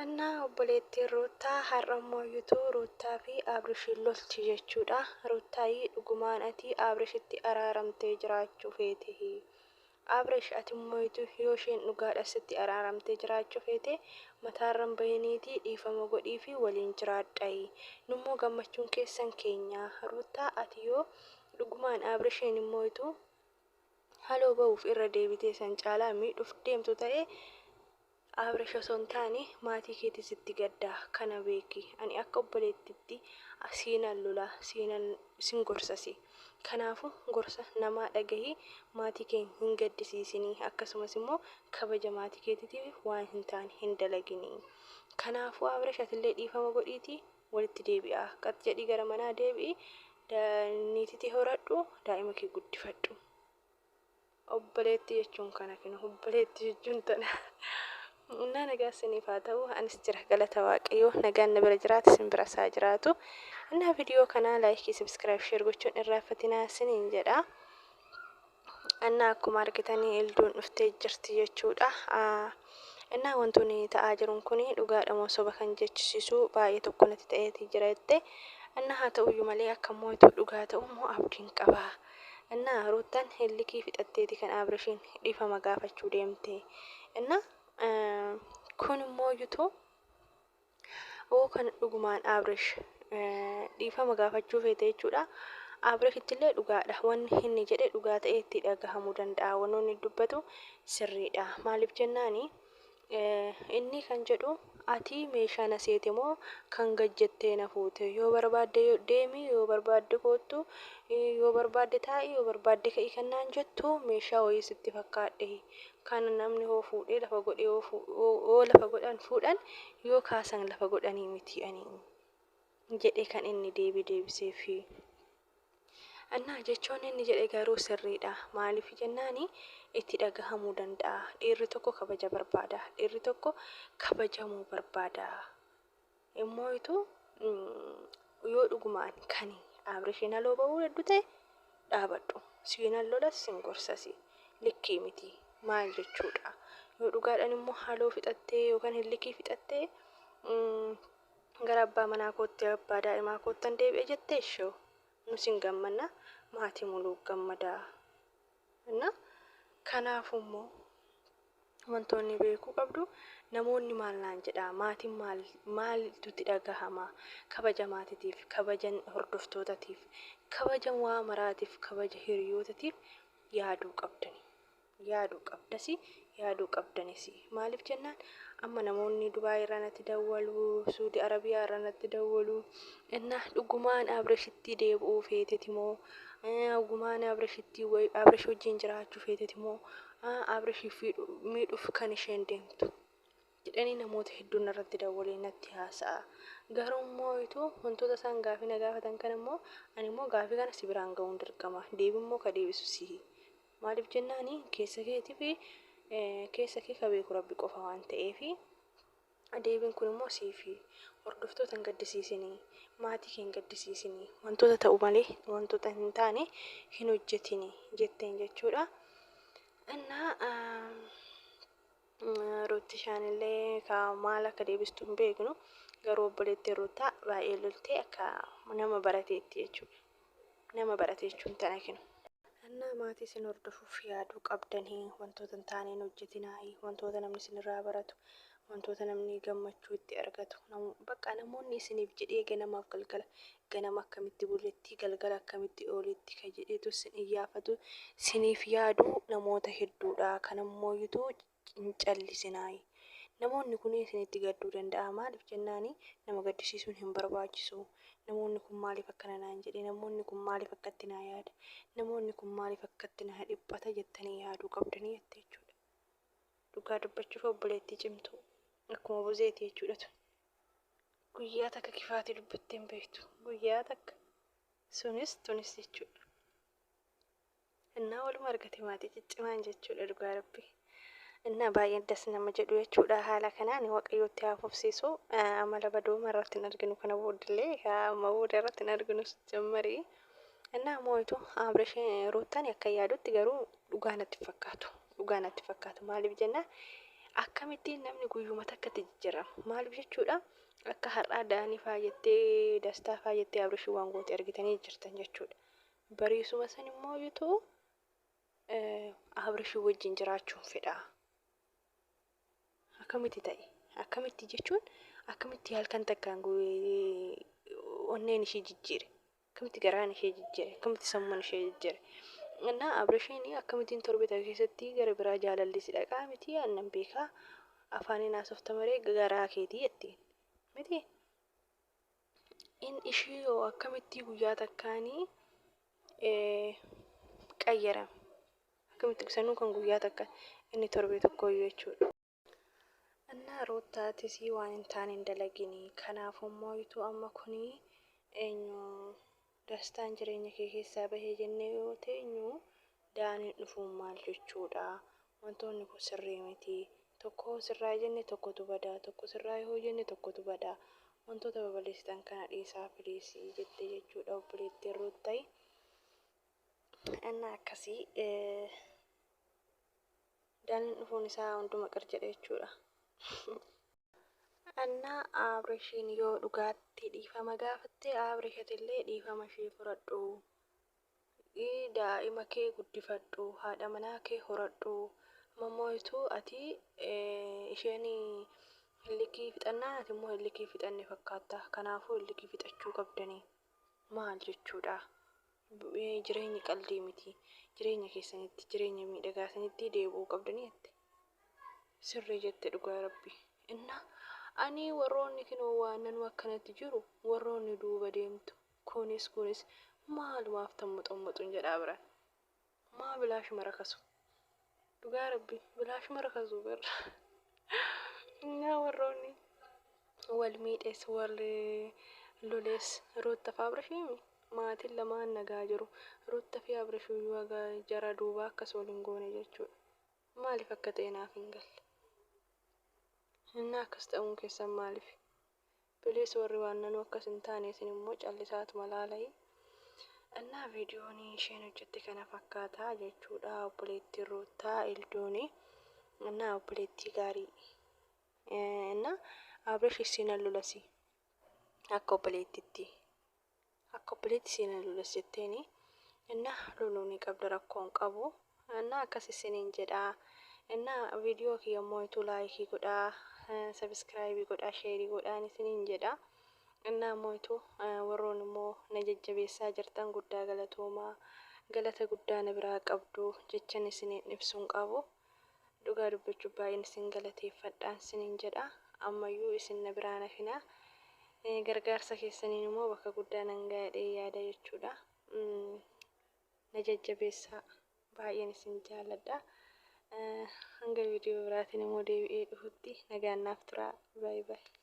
Anna obboleettiin Ruuttaa har'a immoo yutuu Ruuttaa fi Aabrishiin lolti jechuudha. Ruuttaayii dhugumaan ati Aabrishitti araaramtee jiraachuu feetehi. Aabrish ati immoo yutuu yoo isheen dhugaadha sitti araaramtee jiraachuu feete mataarran bahiniitii dhiifama godhii fi waliin jiraadhayi. Nummoo gammachuun keessan keenyaa. Ruuttaa ati yoo dhugumaan Aabrishiin immoo yutuu haloo bahuuf irra deebitee san caalaa miidhuuf deemtu ta'e Abrish osoo hin taane maatii keetii sitti gadda kana beeki ani akka obboleettitti siinan lola siinan sin gorsasi kanaafu gorsa namaa dhagahi maatii kee hin gaddisiisini akkasumas immoo kabaja maatii keetitiif waan hin taane hin dalagini kanaafu Abrish atillee dhiifama godhiiti walitti deebi'aa qat jedhii gara manaa deebi'i niititee horadhu daa'ima kee guddifadhu. Obboleetti jechuun kana kinu obboleetti jechuun tana. Humnaa nagaa isiniif haa ta'u anis jira galata waaqayyoo nagaan na bira jiraati isin bira isaa jiraatu. Innaa viidiyoo kanaa laayikii sabiskiraayib sheer gochuun irraa fatinaa isiniin jedha. Innaa akkuma argitanii ilduun dhuftee jirti jechuudha. Innaa wantoonni ta'aa jiruun kun dhugaadha moo soba kan jechisiisu baay'ee tokko natti ta'eeti jira jette. Innaa haa ta'uyyuu malee akka mootu dhugaa ta'u moo abdiin qabaa. Enna ruuttan likii fixatteeti kan aabrishiin dhifama gaafachuu deemte enna kun immoo yutuu oo kan dhugumaan aabrish dhiifama gaafachuu feete jechuudha aabrishitti illee dhugaadha wanni inni jedhe dhugaa ta'ee itti dhagahamuu danda'a wanoonni dubbatu sirriidha maaliif jennaani Inni kan jedhu ati meeshaa na seete moo kan gad jettee na fuute? Yoo barbaadde deemi, yoo barbaadde koottu, yoo barbaadde taa'i, yoo barbaadde ka'i kan naan jettu meeshaa wayii sitti fakkaadhee? Kan namni hoo fuudhee lafa godhee hoo fu- hoo- hoo lafa godhan fuudhan yoo kaasan lafa godhanii miti ani jedhee kan inni deebii deebiseefi. Annaa jechoon inni jedhe garuu sirriidha. Maaliif jennaani itti dhagahamuu danda'a. Dhiirri tokko kabaja barbaada. Dhiirri tokko kabajamuu barbaada. Immoo ituu yoo dhugumaan kan Abrishiin haloo ba'uu heddu ta'e dhaabadhu. Siinan lolas sin gorsasi. Likkii miti. Maal jechuudha. Yoo dhugaadhaan immoo haloo fixattee yookaan hin likkii fixattee Gara abbaa manaa kootti abbaa daa'imaa koottan deebi'a jette ishew. Nus hin gammanna, maatii muluu gammada. Inna kanaafuu immoo wantoonni beekuu qabdu namoonni maal naan jedhaa maatiin maal maaltu itti dhagahama kabaja maatitiif kabaja hordoftootatiif kabaja waa maraatiif kabaja hiriyootatiif yaaduu qabdani. yaadu qabdasi yaaduu qabdanisi maaliif jennaan amma namoonni dubaay irraa natti dawwalu suudi arabiyaa irraa natti dawwalu innaa dhugumaan abirashittii deebi'uu feeteti moo dhugumaan abirashittii abirash wajjin jiraachuu feeteti moo abirashii fi miidhuuf kan isheen deemtu jedhanii namoota hedduun irratti dawwalee natti haasa'a garuu immoo ituu wantoota isaan gaafii na gaafatan kan immoo ani immoo gaafii kana si biraan ga'uun dirqama deebii immoo ka deebisu sihi Maaliif jennaan keessa keetiif keessa kee ka beeku Rabbi qofa waan ta'eef deebiin kun immoo siif hordoftoota hin gaddisiisinii maatii kee hin gaddisiisinii wantoota ta'u malee wantoota hin taane hin hojjetinii jetteen jechuudha. Innaa Ruuttishaan illee ka maal akka deebistu hin beeknu garuu obboleettiin Ruuttaa baay'ee loltee akka nama barateetti jechuudha. nama barate jechuun tana kinu. Annaa maatii isin hordofuuf yaaduu qabdanii wantoota hin taaneen hojjetinaayi wantoota namni isinirraa baratu wantoota namni gammachuu itti argatu namu- bakka namoonni isiniif jedhee ganamaaf galgala ganama akkamitti buletti galgala akkamitti ooletti ka jedheetu isin iyyaafatu isiniif yaadu namoota hedduudha kanammoo yutu hin callisinaayi. Namoonni kun isinitti gadduu danda'a. Maaliif jennaan nama gaddisiisuun hin barbaachisu. Namoonni kun maaliif akkana naan jedhe? Namoonni kun maaliif akkatti naa yaada? Namoonni kun maaliif akkatti naa dhiphata jettanii yaaduu qabdanii jette jechuudha. Dhugaa dubbachuuf obboleettii cimtuu akkuma buzeeti jechuudha tun. Guyyaa takka kifaatii dubbattee hin beektu. Guyyaa takka sunis tunis jechuudha. Innaa waluma argate maatii ciccimaan jechuudha dhugaa rabbi. Innaa baay'ee das nama jedhu jechuudha haala kanaan waqayyootti haa fufsiisu amala badooma irratti hin arginu kana boodillee amma booda irratti hin arginu jammarii. Innaa moo'itu Abrishin Ruuttan akka yaadutti garuu dhugaa natti fakkaatu. Dhugaa natti fakkaatu maaliif jennaan akkamittiin namni guyyuma takkatti jijjiirama maaliif jechuudha akka har'aa daanii faayattee dastaa faayattee Abrishin waan goote argitanii jirtan jechuudha. Bariisuma san immoo yutu Abrishii wajjin jiraachuun fedha. Akkamitti ta'e? Akkamitti jechuun akkamitti halkan takkaan onneen ishee jijjiire? Akkamitti garaan ishee jijjiire? Akkamitti sammuun ishee jijjiire? Innaa Abrishiin akkamittiin torbee takka keessatti gara biraa jaalalli si dhaqaa miti annan beekaa afaaniin haasofta maree garaa keetii jettiin miti. In ishii hoo akkamittii guyyaa takkaani qayyarame akkamitti sanuu kan guyyaa takka inni torbee tokkooyyuu jechuudha. Annaa ruuttaa atisii waan hin taane hin dalaginii kanaafuu mooyituu amma kunii eenyu Dastaan jireenya kee keessaa bahe jennee yoo teenyu, Daaniin dhufuun maal jechuu dha? Wantoonni kun sirrii miti. Tokko yoo sirraa'e jenne tokkotu bada, tokko sirraa'e yoo jenne tokkotu bada. Wantoota babalesitan kana dhiisaa please jette jechuu dha obboleettiin Ruuttayi. Innaa akkasii. Daniin dhufuun isaa hunduma qir jedhe jechuudha. Anna Abrishiin yoo dhugaatti dhiifama gaafatte Abrish atillee dhiifama ishee fudhadhu. Ii daa'ima kee guddifadhu haadha manaa kee horadhu. Ammoo ituu ati eh, isheen hillikii fixannaan ati immoo hillikii fixanne fakkaatta. Kanaafuu hillikii fixachuu qabdanii. Maal jechuudha? Jireenyi qaldii miti. Jireenya keessanitti jireenya miidhagaa sanitti deebi'uu qabdanii jette. Sirrii jette dhugaa rabbi. Inna ani warroonni kinoo waannanuu akkanatti jiru warroonni duuba deemtu kunis kunis maalumaaf tammuxammuxuun jedhaa biran. Maa bilaashuma rakasu. Dhugaa rabbi bilaashuma rakasu bar. Naa warroonni wal miidhes wal loles Ruutta fi Abrishiimi maatiin lamaan nagaa jiru. Ruutta fi Abrishiyyuu haga jara duubaa akkas wal hin goone jechuudha. Maaliif akka ta'e naaf hin galle. Innaa akkas ta'uun keessan maaliif? Please warri waannanuu akkas hin taane isin immoo callisaatuma laalai Annaa viidiyoon isheen hojjette kana fakkaata jechuudha obboleettiin Ruuttaa Eldooni Annaa obboleettii gaarii Annaa Abrish issiin allulasi akka obboleettitti. Akka obboleetti si na loles jetteeni. Ennaa loluu ni qabda rakkoo hin qabu. Ennaa akkas isiniin jedhaa. Ennaa viidiyoo kiyya mooyituu laayikii godhaa, sabiskiraayibii godhaa, sheerii godhaan isiniin jedha. Ennaa mooyituu warroon immoo na jajjabeessaa jirtan guddaa galatoomaa. Galata guddaa na biraa qabdu jechan isiniin ibsu hin qabu. Dhugaa dubbachuuf baay'een isin galateeffadhaan sinin jedha. Ammayyuu isin na biraa hin hafinaa. Gargaarsa keessaniin immoo bakka guddaa nan ga'a jedhee yaada jechuudha. Na jajjabeessaa. Baay'een isin jaalladha. Hanga viidiyoo biraatiin immoo deebi'ee dhufutti nagaan naaf turaa. Baay'ee baay'ee.